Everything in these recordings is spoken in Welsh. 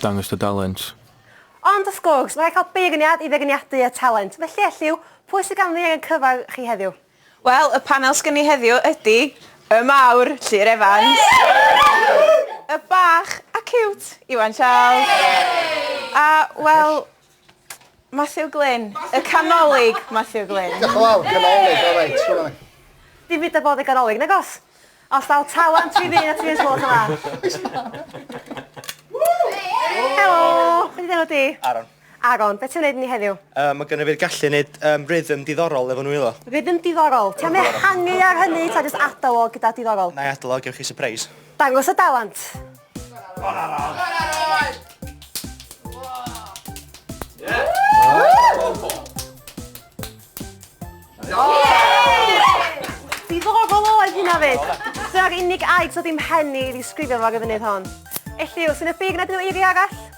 Dangos dy dalent. Ond wrth gwrs, mae'n rhaid cael beirniad i feirniadu y talent. Felly, Elliw, pwy sydd ganddi angen cyfan chi heddiw? Wel, y panel sgen ni heddiw ydi y mawr, Llŷr Evans, y bach a ciwt, Iwan Charles, a, wel, Matthew Glyn. Y canolig Matthew Glyn. Diolch yn fawr, canolig, o reit, ti'n gwybod. Dim byd da bod yn ganolig, nag os? Os daw talent fi fydd at i'n sgwrs yma. Helo, beth ydy enw di? Aaron. Aaron, beth ti'n gwneud ni heddiw? Um, mae gynnu fi'r gallu wneud um, rhythm diddorol efo nhw iddo. Rhythm diddorol? Ti'n mynd hangi ar hynny, ta jyst adalog gyda diddorol? Na i adalog, ewch chi surprise. Dangos y dalent. Bon arall! Bon arall! Diddorol oedd hynna fyd. Dyna'r unig aeg so ddim hen i ddisgrifio fo ar y funud hon. Elliw, sy'n y big na dyn nhw eiriau arall?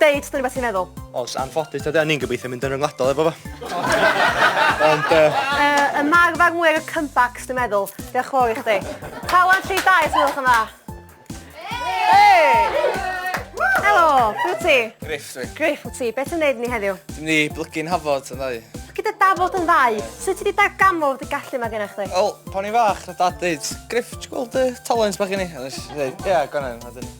Deud dyna beth ti'n meddwl. Os anffodus tad ni'n gobeithio mynd yn ryngwladol efo fo. Ond... Uh, ymarfer mwy ar y comebacks, dwi'n meddwl. Diolch yn fawr i chdi. Pawan tri dau, os ydych yma. Helo, beth ti? Griff dwi. Griff wyt ti, beth yn neud ni heddiw? Dwi'n ni blygu'n hafod yn ddau. Gyda dafod yn ddau, sut ti wedi darganfod dy gallu yma gennych chdi? Wel, pan i'n fach, na dad dweud, Griff, ti'n gweld y talent bach i ni? A nes i dweud, ie, yeah, gwanan, a dyn.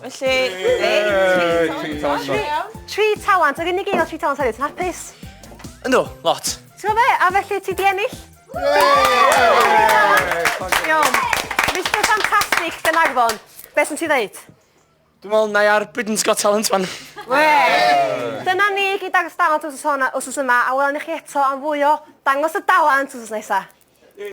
Felly, Yay! Tri talent. Tri talent. Tri talent. Yr unig un o tri talent hefyd sy'n hapus. Yndw, lot. Ti'n gwybod be? A felly ti di ennill? Iawn. Mr Fantastic Gynarfon, beth sy'n ti ddeud? Dwi'n meddwl na i ar Britain's Got Talent fan. Wee! Dyna ni gyd dangos dalent os oes yma, a welwn ni chi eto am fwy o dangos y dalent os oes nesaf.